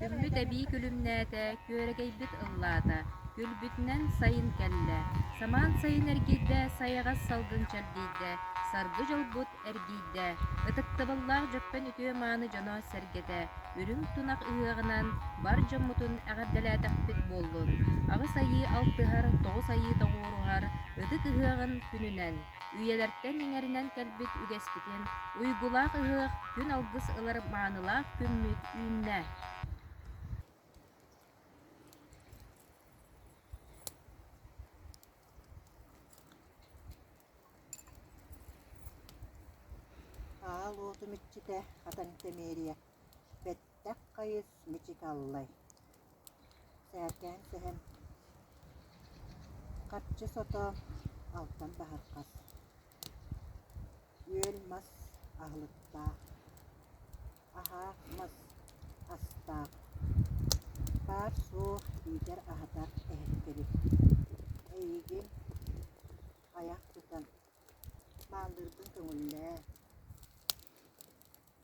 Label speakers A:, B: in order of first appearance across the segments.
A: Күлбүт эбии күлүмнээтэ, күөрэгэйбит ыллаата, күлбүтүнэн сайын кэллэ. Самаан сайын эргийдэ, сайаҕас салгын чэрдийдэ, саргы дьолбут эргийдэ. Ытыктабыллаах Дьөппөн үтүө-мааны дьоно-сэргэтэ, үрүҥ тунах ыһыаҕынан бар дьоммутун эҕэрдэлээтэхпит буоллун! Аҕыс айыы алтыһар, тоҕус айыы тоҕуоруһар ытык ыһыаҕын күнүнэн! Үйэлэртэн иҥэринэн кэлбит үгэспитин, уйгулаах ыһыах күн алгыс ылар маанылаах күммүт үүннэ. Аал уотум иччитэ, хатан тэмиэрийэ, Тах хайыс мичикаллай Сээркээн сэһэн Харчы сотоон Алтан баһырҕас Үөл мас аһылыктаах Аһаах мас астаах Паар суох иитэр аһатар эһэккэбит Эйигин айах тутан Мааллыырбын көҥүллээ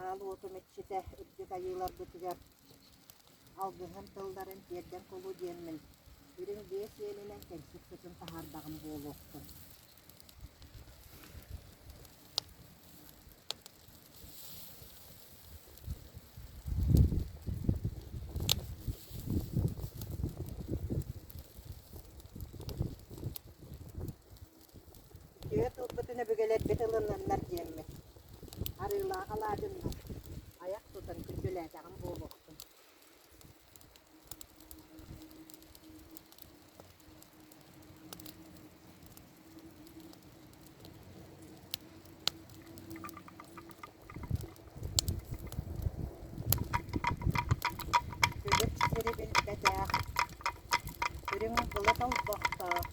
A: Аал уоту мэччитэ үрдүк айыыларбытыгар алгыһын тылларын тиэрдэр кулу диэммин, үрүҥ биэс иэнинэн кэнсиэрпитин таһаардаҕым буолуохтун Түөрт ылбытын өбүгэлэрбит ылыннаннар диэммит. Арыылаах алаадьыннар, айах тутан күндүлээтэҕим буолуохтун. Күлүк сирибилбэтээх, Үрүҥ былыт олбохтоох,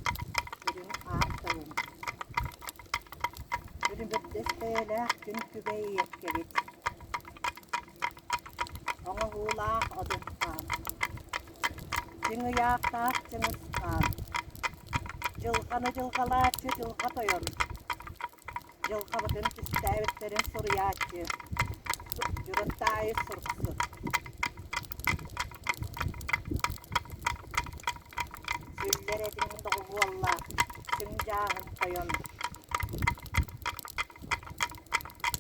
A: Үрүҥ аар тылын. Үрүмүрдэс бэйэлээх күн күбэй иэккэбит, Оҥоһуулаах одуктаан Күн ыйаахтаах чыҥысхаан Дьылҕаны дьылҕалааччы дьылҕа тойон Дьылҕабытын түстээбиттэрин суруйааччы Дьылыт аайы суруксут Сүллэр этиҥ доҕуһуолла Күн дьааһын тойон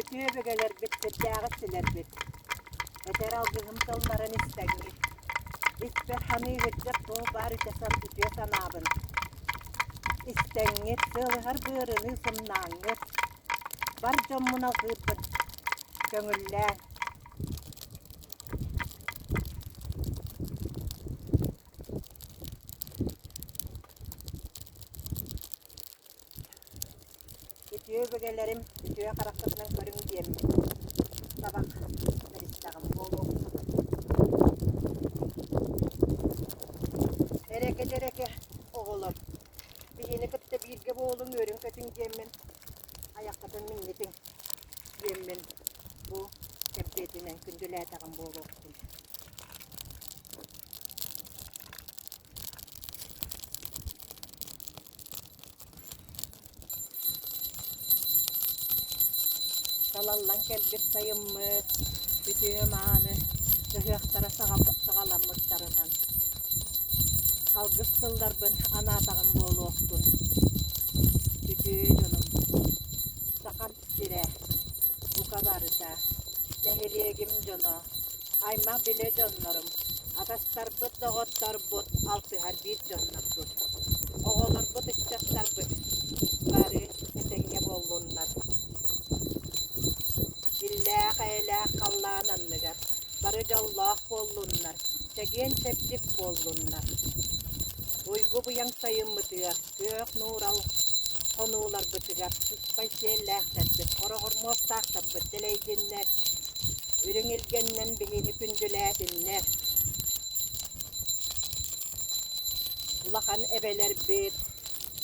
A: Ити өбүгэлэрбит сирдээҕи синэрбит, этэр алгыһым тылларын истэҥҥит, испэр саныы илдьэр туох баар итэ үтүө санаабын истэҥҥит, сыалыһар быарыныы сымнааҥҥыт, бар дьоммун алҕыырбын көҥүллээҥ. Үтүө өбүгэлэрим үтүө хараххытынан көрүҥ диэммин, табах сэристэҕим буолуохсун Эрэкэ-дьэрэкэ оҕолор, биһини кытта бииргэ буолуҥ, үөрүҥ-көтүҥ диэммин, айаххытын миннитиҥ диэммин бу кэмпиэтинэн күндүлээтэҕим буолуохтун Салаллан кэлбит сайыммыт күтүө-мааны ыһыахтара саҕаламмыттарынан алгыс тылларбын анаатаҕым буолуохтун. Бүтүн дьонум Саха сирэ. Бука барыта, нэһилиэгим дьоно, аймах-билэ дьоннорум, атастарбыт, доҕотторбут, алтыһар биир дьоннорбут. Оҕолорбут, ыччаттарбыт бары этэҥҥэ буоллуннар. Иллээх-эйэлээх халлаан анныгар бары дьоллоох буоллуннар, чэгиэн-чэбдик буоллуннар. Уйгу-быйаҥ сайыммытыгар Күөх нуурал хонууларбытыгар сыспай сиэллээхтэрбит, хороҕормуостаахтарбыт дэлэйдиннэр, үрүҥ илгэннэн биһиги күндүлээтиннэр. Улахан эбэлэрбит,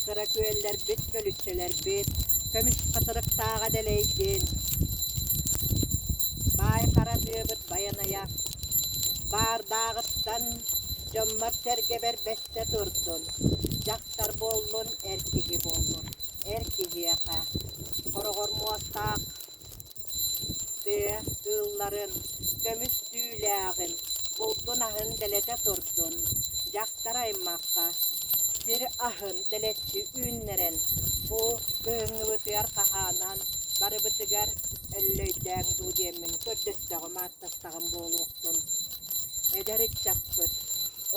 A: кыра күөллэрбит, көлүччэлэрбит көмүс хатырыктааҕа дэлэйдин! Баай Харатыабыт Байанайа, баардааҕыттан дьоммор-сэргэбэр Истэ турдун, дьахтар буоллун, эр киһи буоллун, эр киһиэхэ, хороҕор муостаах тыа кыылларын, көмүс түүлээҕин, булдун-аһын дэлэтэ турдун, дьахтар-аймахха сир аһын дэлэччи үүннэрэн, бу кыһыҥҥыбытыгар хаһаанан барыбытыгар өллөйдөөҥ дуу диэммин көрдөстөҕүм тахсаҕын буолуохтун. Эдэр ыччаппыт,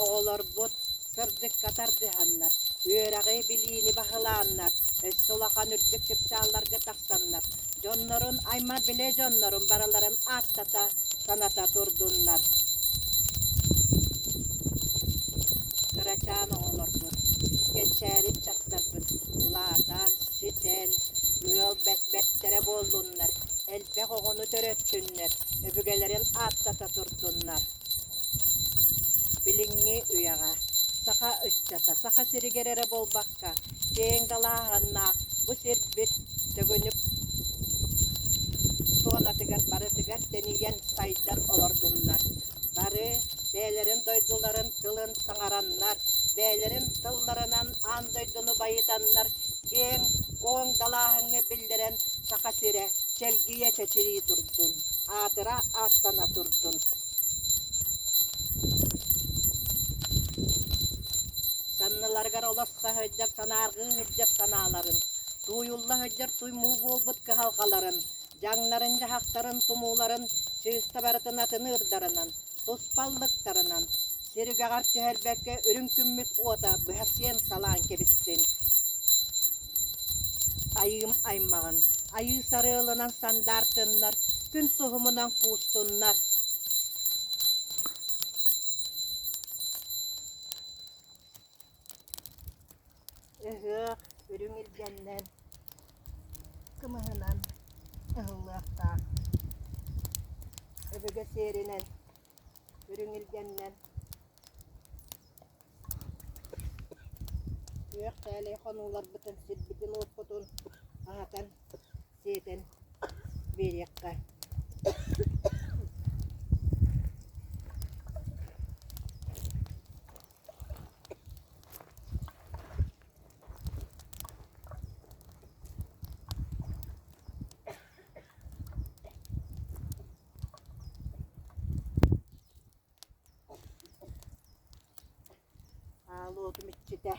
A: оҕолорбут сырдыкка тардыһаннар, үөрэҕи-билиини баһылааннар, өссө улахан үрдүк чыпчаалларга тахсаннар, дьоннорун, аймах-билэ дьоннорун барыларын ааттата, саната турдуннар. Кырачаан оҕолорбут, кэнчээри ыччаттарбыт улаатан, ситэн, ыал бэт бэртэрэ буоллуннар, элбэх оҕону төрөттүннэр, көрдүннэр, өбүгэлэрин ааттата турдуннар. Билиҥҥи үйэҕэ саха ыччата Саха сиригэр эрэ буолбакка, киэҥ далааһаннаах бу сирбит төгүнүк зонатыгар барытыгар тэнийэн сайдан олордуннар. Бары бэйэлэрин дойдуларын тылын саҥараннар, бэйэлэрин тылларынан аан дойдуну байытаннар, киэҥ-куоҥ далааһыҥҥа биллэрэн Саха сирэ чэлгийэ чэчирии турдун, аатыра ааттана турдун. Санныларыгар олос саһыдьар санааргыы сылдьар санааларын, тууйулла сылдьар туймуу буолбут кыһалҕаларын, дьаҥнарын-дьаһахтарын тумууларын чыыста барытын атыныырдарынан, туспа аллыктарынан, сир үгэҕэр түһэрбэккэ үрүҥ күммүт уота быһа сиэн-салаан кэбистин. Айыым аймаҕын, айыы сарыалынан сандаар тыннар, күн суһумунан куустуннар. Ыһыах үрүҥ илгэннэн, кымыһынан ыһыллыахтаах. Өбүгэ сиэринэн үрүҥ илгэннэн күөх тээлэй хонууларбытын, сирбитин-уоппутун аһатан, сиэтэн биэриэххэ. аал уотум иччитэ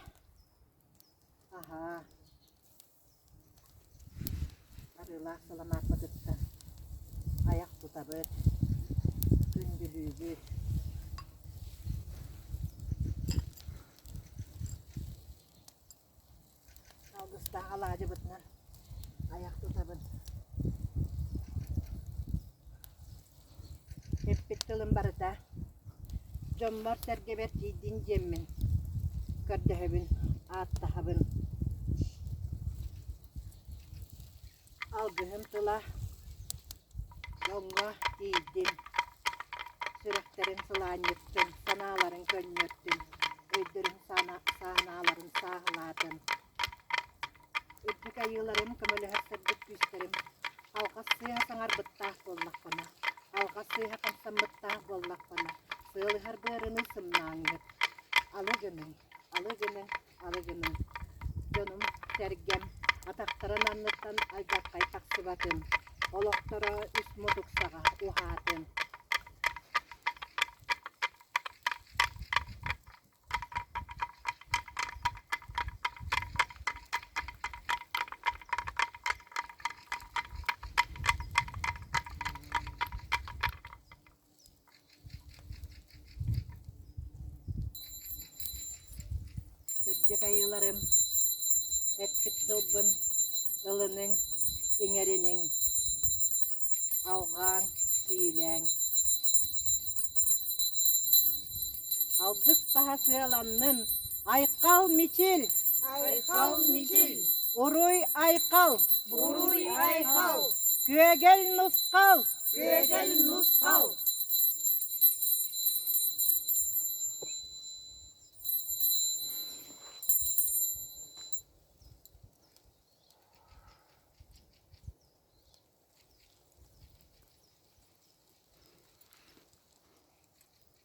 A: аһаа Арыылаах сыламааппа кытта айах тутабыт, күндүлүүбүт. Алгыстаах алаадьыбытынан айах тутабыт. Эппит тылым барыта: дьоммор-сэргэбэр тиийдин диэммин, көрдөһөбүн, ааттаһабын Алгыһым тыла дьоҥҥо тиийдин, сүрэхтэрин сылаанньыттын, санааларын көнньөртүн, өйдөрүн сааналарын сааһылаатын Үрдүк айыыларым көмөлөһөр сырдык күүстэрим алҕас сыыһа саҥар быттаах буоллаххына, алҕас сыыһа хамсаммыттаах буоллаххына, сыалыһар быарыҥый сымнаҕыҥыт. Алы гыныҥ, алы гынэ, алы гыныҥ. Дьонум, сэргэм, атахтарын анныттан алдьархай тахсыбатын, олохторо үс мутуксаҕа уһаатын. Сырдык айыыларым, эппит тылбын ылыныҥ, иҥэриниҥ, алҕааҥ, сиилээҥ. Алгыс таһасыаланнын, айхал мичил! Айхал мичил! Уруй-айхал! Уруй-айхал! Күөгэл нусхал! Күөгэл нусхал!